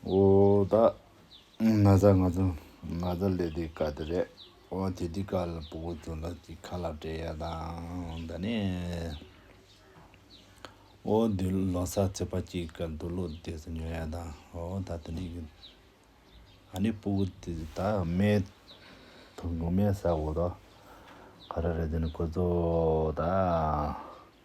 འོ་ད་ན་ཚ་ང་ཚོ་ང་ཚ་ལས་དེ་ག་དེ་རེད་འོ་དེ་དེ་ག་ལ་པོ་གོ་ཚོ་ལ་དེ་ཁ་ལག་བྲེ་ཡ་དང་ད་ནས་འོ་དུ་ལོ་ས་ཚེ་པ་ཅི་ག་དུ་ལོ་དེ་ཚོ་ཉོ་ཡ་དང་འོ་ད་དེ་ནས་གི་ཨ་ནེ་པོ་གོ་དེ་ད་མེ་ཐུག་མེ་ས་འོ་ད་ག་ར་རེད་དེ་ནས་གོ་ཚོ་ད།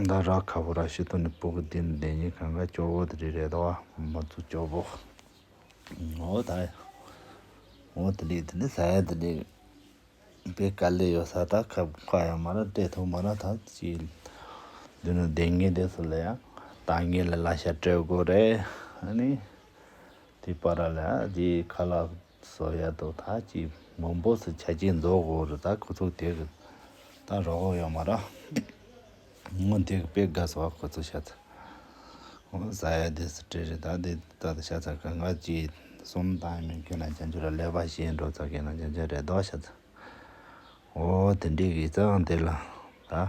མདའ་ར་ཁ་བོ་ར་ཤི་ཏོ་ནི་པུ་གུ་དི་ནི་དེ་ཉིད་གང་ག་སྐྱོ་བོ་དི་རི་རེ་ད་བ་མ་ཙུ་སྐྱོ་བོ་ངོ་བོ་དག་ངོ་དི་ལི་དི་ལི་ས་ཡ་དི་ལི་པི་ཀ་ལི་ཡོ་ས་ད་ཁ་བུ་ཁ་ཡ་མ་ར་ཏྲེ་ཐུ་མ་ར་ད་ཅི་དི་ནི་དེ་ངེ་དེ་སུ་ལི་ཡ་ད་ངེ་ལི་ལ་ཤ་ཏྲེ་གོ་རེ་ཨ་ནི་དི་པ་ར་ལ་ཡ་དི་ཁ་ལ། སོ་ཡ་དོ་ཐ་ཅི་མོ་འབོ་སི་ཆ་ཅི་མཛོ་གོ་རི་ད་ཁོ་ཚོ་དེ་གི་ད་རོ་ཧོ་ཡོ་མ་ར་ངོ་དེ་གི་པེ་ག་སོ་ཨ་ཁོ་ཚོ་ཤ་ཚ་ཧོ་ཟ་ཡ་དེ་སི་ཏྲེ་རི་ད་དེ་ད་ད་ཤ་ཚ་ག་ང་ཅི་སོམ་ད་ཡིན་མིན་ཁྱོད་རང་ཅན་ཅུ་ར་ལེ་བ་ཤེས་འགྲོ་ཚ་ཁྱོད་རང་ཅན་ཅུ་རེ་དོ་ཤ་ཚ་ཧོ་དེ་འདྲི་གི་ཙང་དེ་ལ་ད།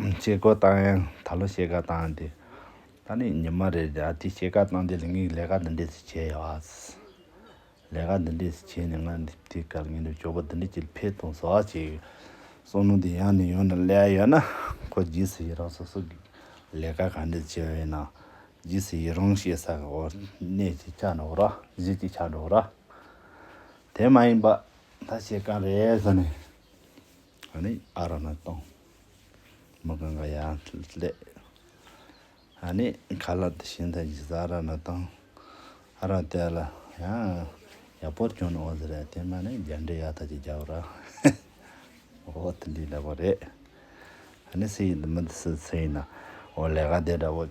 བཤད་སྒོ་བཏང་ཡང་ད་ལོ་བཤད་སྒ་བཏང་དེ་ད་ནི་ཉི་མ་རེ་རེ་ཨ་ཏི་བཤད་སྒ་བཏང་དེ་ལས་ངས་ལས་ཀ་འདི་འདྲས་ཟིག་བྱས་ཡོད་ཨ་ཟེར། ལས་ཀ་འདི་འདྲས་ཟིག་བྱས་ནས་ང་འདི་དེ་གར་ངས་འདི་ཇོ་བོ་འདི་འདྲས་ཀྱིས་འཕེལ་གཏོང་ཟོ་ཨ་བྱས་ཡོད། སོ་ནུ་དེ་ཡང་ནས་ཡོང་ནས་སླེ་ཨ་ཡོད་ན་ཁོ་ཇི་ཟེར་ཡི་རང་སོ་སོ་གིས་ལས་ཀ་གང་འདྲས་བྱས་ཡོད་ན་ཇི་ཟེར་ཡི་རང་བཤད་ས་གོ་གནས་ཀྱིས་ཆགས་འགྲོ་ར་གཞི་ཀྱིས་ཆགས་འགྲོ་ར། དེ་མ་ཡིན་པ་ད་བཤད་སྒ་རེད་ཟེར་ནས། ཨ་ནི་ཨ་ར་ན་དང། མི་གང་ག་ཡ་ལེ། ཨ་ནི་ཁ་ལ་དེ་ཤིན་ཐ་ཇི་ས་ཨ་ར་ན་དང། ཨ་ར་ཏེ་ལ་ཡང་ཡ་པོར་ཀྱོ་ན་ཨོ་ཟི་ར་ཏེ་མ་ནི་རྒྱ་འདྲེ་ཡ་ཐ་ཇི་རྒྱ་བ་ར། ཨོ་ཏི་འདི་ལེ་བ་རེད། ཨ་ནི་སི་ཡི་འདི་མི་འདི་སི་ཚེ་ཡི་ན་ཨོ་ལེ་ག་དེ་འདྲ་བོ།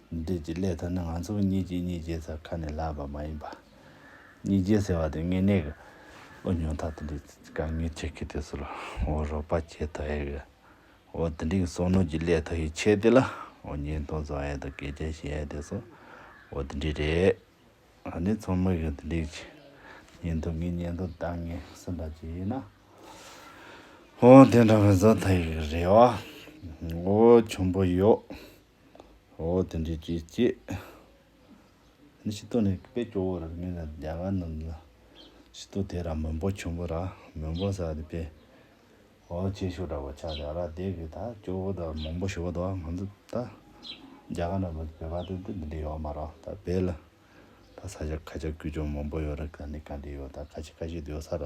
འབྲས་ཀྱི་སླད་དུ་ནི་ང་ཚོ་གཉིས་ཀྱིས་གཉིས་རྗེས་ཟེར་ཁ་ནས་ལབ་པ་མ་ཡིན་པར། གཉིས་རྗེས་ཟེར་བ་དེ་དངོས་གནས་ཀྱི་འུ་ཉོ་ཐག་དེ་འདྲའི་དཀའ་ངལ་ཆེ་གི་དེ་ཚོར་འུ་རོགས་པ་བྱེད་ཐུབ་ཨེ་གི། འུ་དེ་འདྲའི་གསོག་ནོར་གྱི་སླད་དུ་ཡི་ཆད་དེ་ལ་འུ་ཉེས་མཐོང་བཟོ་ཨེ་དང་གད་རྒྱ་བྱེད་ཨེ་དེ་ཚོ་འུ་དེ་འདྲའི་རེད། ཨ་ནེ་ཚོ་མིག་གིས་དེ་འདྲའི་ཉེས་མཐོང་གི་ཉེས་མཐོང་བཏང་ངེས་སེམས་པ་ཅིག་ཡིན་ན། འུ་དེ་འདྲ་བཟོ་ཐུབ་ཡི་གི་རེད་ཨོ། འུ་ཆུང་པོ་ཡོད། འོ་དེ་འདྲའི་ཅི་སྐྱེས། ནི་ཤི་ཏོ་ནི་དཔེ་སྐྱོ་བོ་ར་མི་ལ་རྒྱ་གར་རྣམས་ལ་ཤི་ཏོ་དེ་ར་མོན་པོ་ཆུན་པོ་ར་མོན་པོ་ཟ་དེ་པེ། འོ་ཁྱེད་ཤོ་དྲ་བོ་ཆ་དེ་ར་དེ་གི་ད་སྐྱོ་བོ་ད་མོན་པོ་ཤོ་བོ་དོ་ང་ཚོ་ད་རྒྱ་གར་རྣམས་ལ་བོད་པ་དེ་འདི་འདི་འདྲའི་ཡོ་མ་རོ་ད་བེ་ལ། ད་ས་ཆ་ཁ་ཆ་ཀུ་ཅོ་མོན་པོ་ཡོ་ར་ག་འདི་ག་འདི་ཡོ་ད་ཁ་ཆེ་ཁ་ཤེ་དེ་ཡོ་ས་ར་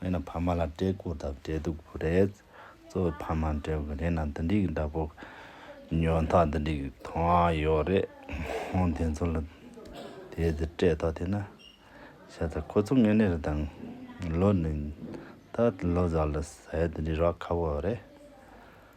མེད་ན་ཕ་མ་ལ་སྤྲད་དགོས་དང་སྤྲད་སྡུག་པོ་རེད། གཙོ་བོ་ཕ་མར་སྤྲད་དགོས་རེད་ན་འདི་འདྲའི་གི་འདྲ་པོ་ཉོ་ཐག་འདི་འདྲའི་གི་ཐོ་ཨ་ཡོད་རེད། ཧོན་དེ་ཚོ་ལ་དེ་འདི་སྤྲད་ཐོག་དེ་ན་ཤ་ཚ་ཁོ་ཚོ་ངེས་ནས་རེད་དང་ལོ་ནི་ད་ལོ་ཟ་ལ་ཟས་འདི་འདྲའི་རག་ཁ་བོ་རེད།